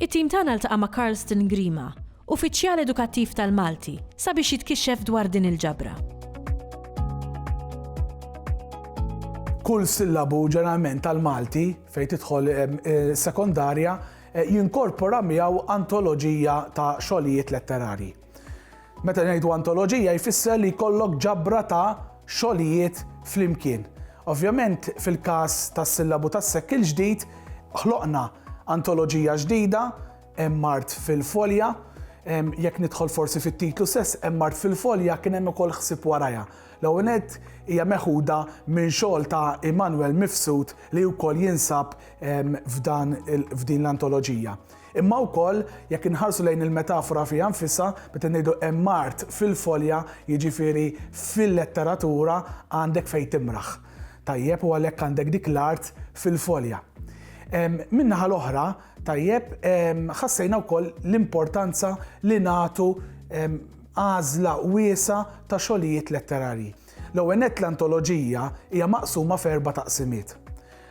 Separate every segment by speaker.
Speaker 1: It-tim tagħna ltaqa' ma' Carlston Grima, Uffiċjal Edukattiv tal-Malti, sabiex jitkixxef dwar din il-ġabra.
Speaker 2: Kull sillabu ġeneralment tal-Malti fejn tidħol sekondarja jinkorpora miegħu antoloġija ta' xogħlijiet letterarji. Meta ngħidu antoloġija jfisser li jkollok ġabra ta' xogħlijiet flimkien. Ovvjament fil-każ tas-sillabu tas-sekk il-ġdid ħloqna antoloġija ġdida hemm mart fil-folja, jekk nidħol forsi fit-titlu stess hemm mart fil-folja kien hemm ukoll ħsieb warajha. L-ewwel nett hija meħuda minn xogħol ta' Immanuel Mifsud li wkoll jinsab f'dan f'din l-antoloġija. Imma wkoll, jekk inħarsu lejn il-metafora fiha nfisha, meta ngħidu hemm art fil-folja, jiġifieri fil-letteratura għandek fejn timraħ. Tajjeb, u għalhekk għandek dik l-art fil-folja. Min-naħa l-oħra, tajjeb, ħassejna wkoll l-importanza li nagħtu għażla wiesa' ta' xogħlijiet letterarji. L-ewwel nett l-antoloġija hija maqsuma f'erba' taqsimiet.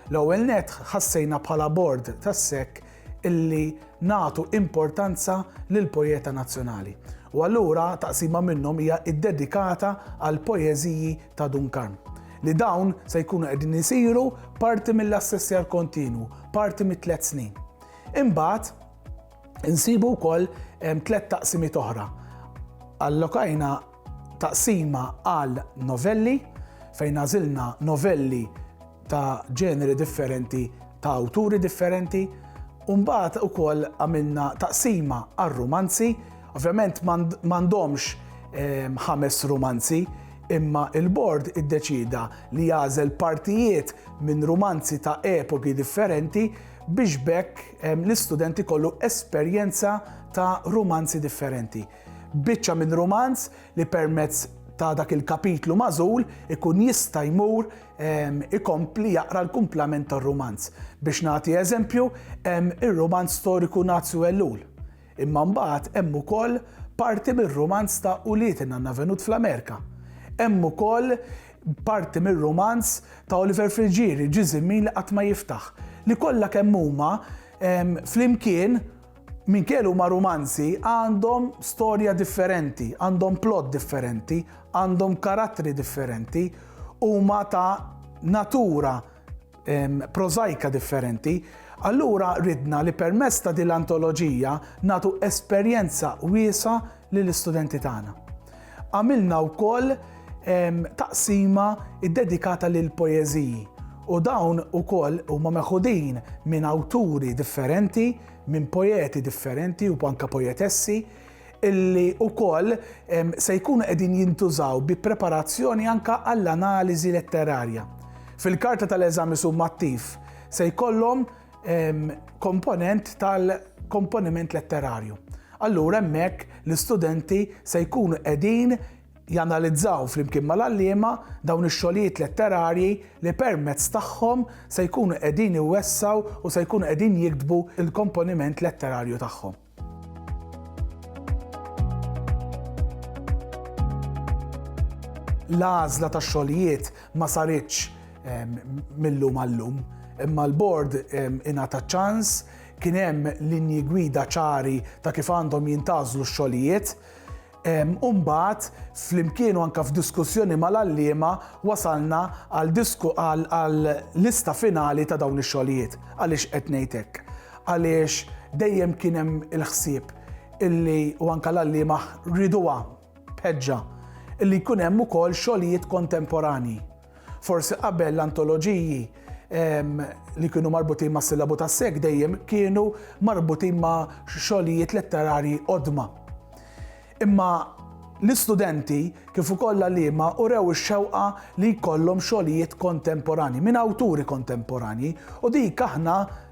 Speaker 2: L-ewwel nett ħassejna bħala bord tas-SEK illi nagħtu importanza lill-poeta nazzjonali u allura taqsima minnhom hija ddedikata għall-poeżiji ta' Dun Karm li dawn se jkunu qegħdin isiru parti mill-assessjar kontinwu, parti mit-tliet snin. Imbagħad insibu wkoll tliet taqsimiet oħra. Allokajna Taqsima għal novelli fejn għażilna novelli ta' ġeneri differenti ta' awturi differenti u mbagħad ukoll għamilna taqsima għal rumanzi, ovvjament m'għandhomx ehm, ħames rumanzi imma il-bord iddeċida li jagħżel partijiet minn rumanzi ta' epoki differenti biex bekk l-istudenti kollu esperjenza ta' rumanzi differenti. Biċċa minn rumanz li permezz ta' dak il-kapitlu magħżul ikun jista' jmur ikompli jaqra l-kumplament tar-rumanz. Biex nagħti eżempju, hemm ir-rumanz storiku Nazju Ellul. Imma mbagħad hemm ukoll parti mir-rumanz ta' Ulied in-Nanna Venut fl-Amerika. Hemm ukoll parti mir-rumanz ta' Oliver Friggieri, Ġiżimmin li qatt ma jiftaħ, li kollha kemm huma flimkien Minkejja li huma rumanzi, għandhom storja differenti, għandhom plot differenti, għandhom karattri differenti, huma ta' natura prożajka differenti. Allura ridna li permezz ta' din l-antoloġija nagħtu esperjenza wiesgħa lill-istudenti tagħna. Għamilna wkoll taqsima ddedikata lill-poeżiji u dawn ukoll huma meħudin minn awturi differenti, minn poeti differenti u anke poetessi illi wkoll se jkunu qegħdin jintużaw bi preparazzjoni anke għall-analiżi letterarja. Fil-karta tal-eżami summattiv se jkollhom komponent tal-komponiment letterarju. Allura hemmhekk l-istudenti se jkunu qegħdin janalizzaw flimkien mal-għalliema dawn ix-xogħlijiet letterarji li permezz tagħhom se jkunu qegħdin iwessaw u se jkunu qegħdin jiktbu l-komponiment letterarju tagħhom. L-għażla tax-xogħlijiet ma saritx ehm, mill-lum għall-lum, imma l-bord ehm, ingħata ċans kien hemm linji gwida ċari ta' kif għandhom jintażlu x-xogħlijiet U mbagħad, flimkien u anke f'diskussjoni mal-għalliema, wasalna għal disku għal għal lista finali ta' dawn ix-xogħlijiet. Għaliex qed ngħid hekk? Għaliex dejjem kien hemm il-ħsieb illi u anke l-għalliema rieduha b'ħeġġa illi jkun hemm ukoll xogħlijiet kontemporanji. Forsi qabel l-antoloġiji li kienu marbutin ma' sillabu ta' sek dejjem kienu marbutin ma' xogħlijiet letterarji qodma. Imma l-istudenti kif ukoll l-għalliema urew ix-xewqa li jkollhom xogħlijiet kontemporanji minn awturi kontemporanji u dik aħna